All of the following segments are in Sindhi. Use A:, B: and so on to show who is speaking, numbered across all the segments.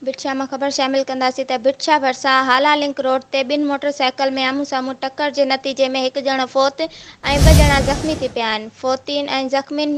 A: ڀٽشاهه مان خبر شامل ڪنداسين ته ڀٽشاهه ڀرسان هالا لنڪ روڊ تي ٻن موٽر سائيڪل ۾ آمهون سامهون ٽڪر جي نتيجي ۾ هڪ ڄڻو فوت ۽ ٻه ڄڻا زخمي ٿي پيا آهن فوتين ۽ زخمين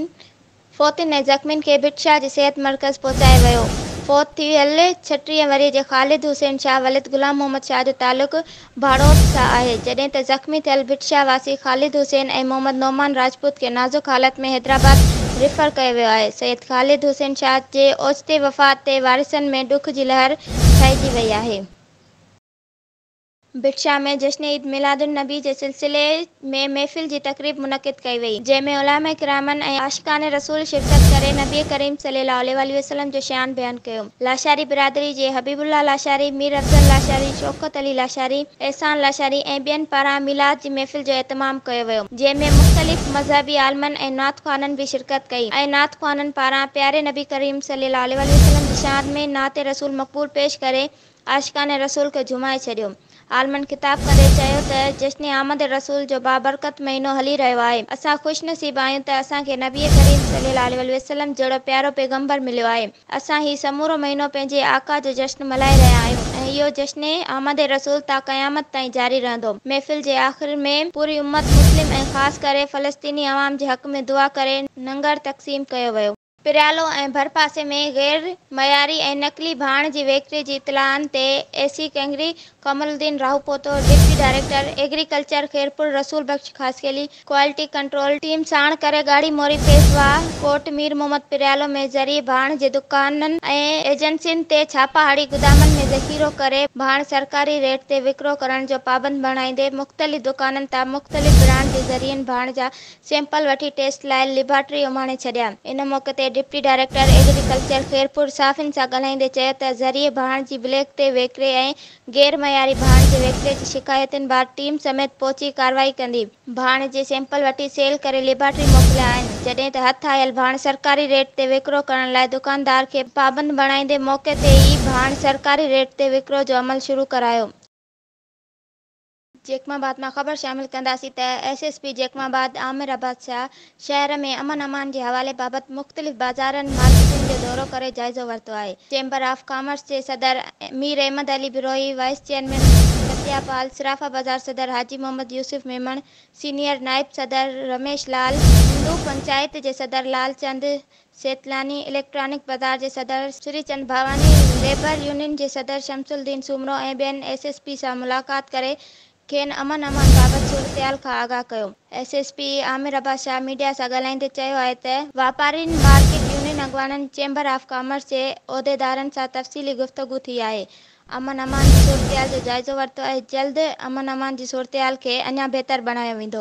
A: فوتين ۽ زخمين کي ڀٽشاهه جي صحت مرڪز پهچايو ويو فوت ٿيل ڇٽيهه ورهيه جي خالد حسين شاهه ولد غلام محمد شاهه جو تعلق ڀاڙوت ٿيا آهي، جڏهن ته زخمي ٿيل ڀٽشاه واسي خالد حسين ۽ محمد نعمان راجپوت کي نازڪ حالت ۾ حيدرآباد ريفر ڪيو ويو آهي. سيد خالد حسين شاهه جي اوچتي وفات تي وارثن ۾ ڏک جي لهر ڇائجي وئي آهي. ڀٽشاه ۾ جشن عيد ميلاد النبي جي سلسلي ۾ محفل جي تقريب منعقد ڪئي وئي جنهن ۾ علماء ڪرامن ۽ عاشقان رسول شرڪت ڪري نبي ڪريم صلي الله عليه واٰله وسلم جو شان بيان ڪيو لاشاري برادري جي حبيب الله لاشاري، مير افضل لاشاري، شوڪت علي لاشاري، احسان لاشاري ۽ ٻين پاران ميلاد جي محفل جو اهتمام ڪيو ويو جنهن ۾ مختلف مذهبي عالمن ۽ نعت خوانن به شرڪت ڪئي ۽ نعت خوانن پاران پياري نبي ڪريم صلي الله عليه واٰله وسلم جي شان ۾ نعت رسول مقبول پيش ڪري عاشقان رسول کي جهومائي ڇڏيو. عالمن خطاب ڪندي چيو ته جشن آمد رسول جو بابرڪت مهينو هلي رهيو آهي، اسان خوش نصيب آهيون ته اسان کي نبي ڪريم صلي الله عليه واٰله وسلم جهڙو پيارو پيغمبر مليو آهي. اسان هي سمورو مهينو پنهنجي آقا جو جشن ملهائي رهيا آهيون ۽ اهو جشن آمد رسول تا قيامت تائين جاري رهندو. محفل جي آخر ۾ پوري امت مسلم ۽ خاص ڪري فلسطيني عوام جي حق ۾ دعا ڪري ننگر تقسيم ڪيو ويو. پريالو ۽ ڀرپاسي ۾ غير معياري ۽ نقلي ڀاڻ جي وهڪري جي اطلاعن تي A C Kingri Kamil Uddin Rahupoto, deputy director agriculture Khairpur Rasool Bux Khaskheli, quality control team ساڻ ڪري ڳاڙهي موري فيس واهه ڪوٽ مير محمد پريالو ۾ زرعي ڀاڻ جي دڪانن ۽ ايجنسين تي ڇاپا هڻي گدامن ۾ ذخيرو ڪري ڀاڻ سرڪاري ريٽ تي وڪرو ڪرڻ جو پابند بڻائيندي مختلف دڪانن تان مختلف برانڊ جي زرعين ڀاڻ جا سيمپل وٺي ٽيسٽ لاء ليبارٽري اماڻي ڇڏيا. ان موقعي تي ڊپٽي ڊائريڪٽر ايگريڪلچر خيرپور صحافين سان ڳالهائيندي چيو ته ذريعي ڀاڻ جي بليڪ ٽي ويڪري ۽ غير معياري ڀاڻ جي ويڪري جي شڪايتن بعد ٽيم سميت پهچي ڪارروائي ڪندي ڀاڻ جي سيمپل وٺي سيل ڪري ليبارٽري موڪليا آهن جڏهن ته هٿ آيل ڀاڻ سرڪاري ريٽ تي وڪرو ڪرڻ لاء دڪاندار کي پابند بڻائيندي موقعي تي ئي ڀاڻ سرڪاري ريٽ تي وڪرو جو عمل شروع ڪرايو. جيڪب آباد مان خبر شامل ڪنداسين ته S S P Jacobabad Amir Abbas Shah شهر ۾ امن امان جي حوالي بابت مختلف بازارن مارڪيٽن جو دورو ڪري جائزو ورتو آهي چيمبر آف ڪامرس جي صدر مير احمد علي بروهي وائيس چيئرمين ستيا پال صرافه بازار صدر حاجي محمد يوسف ميمڻ سينيئر نائب صدر رميش لال هندو پنچائت جي صدر لال چند سيتلاني، اليڪٽرانڪ بازار جي صدر سري چند ڀاواني، ليبر يونين جي صدر شمس الدين سومرو ۽ ٻين ايس ايس پي سان ملاقات ڪري کين امن امان بابت صورتحال کان آگاهه ڪيو. S S P Amir Abbas Shah media سان ڳالهائيندي چيو آهي ته، واپارين، مارڪيٽ يونين اڳواڻن، چيمبر آف ڪامرس جي عهديدارن سان تفصيلي گفتگو ٿي آهي، امن امان جي صورتحال جو جائزو ورتو آهي، جلد امن امان جي صورتحال کي اڃا بهتر بڻايو ويندو.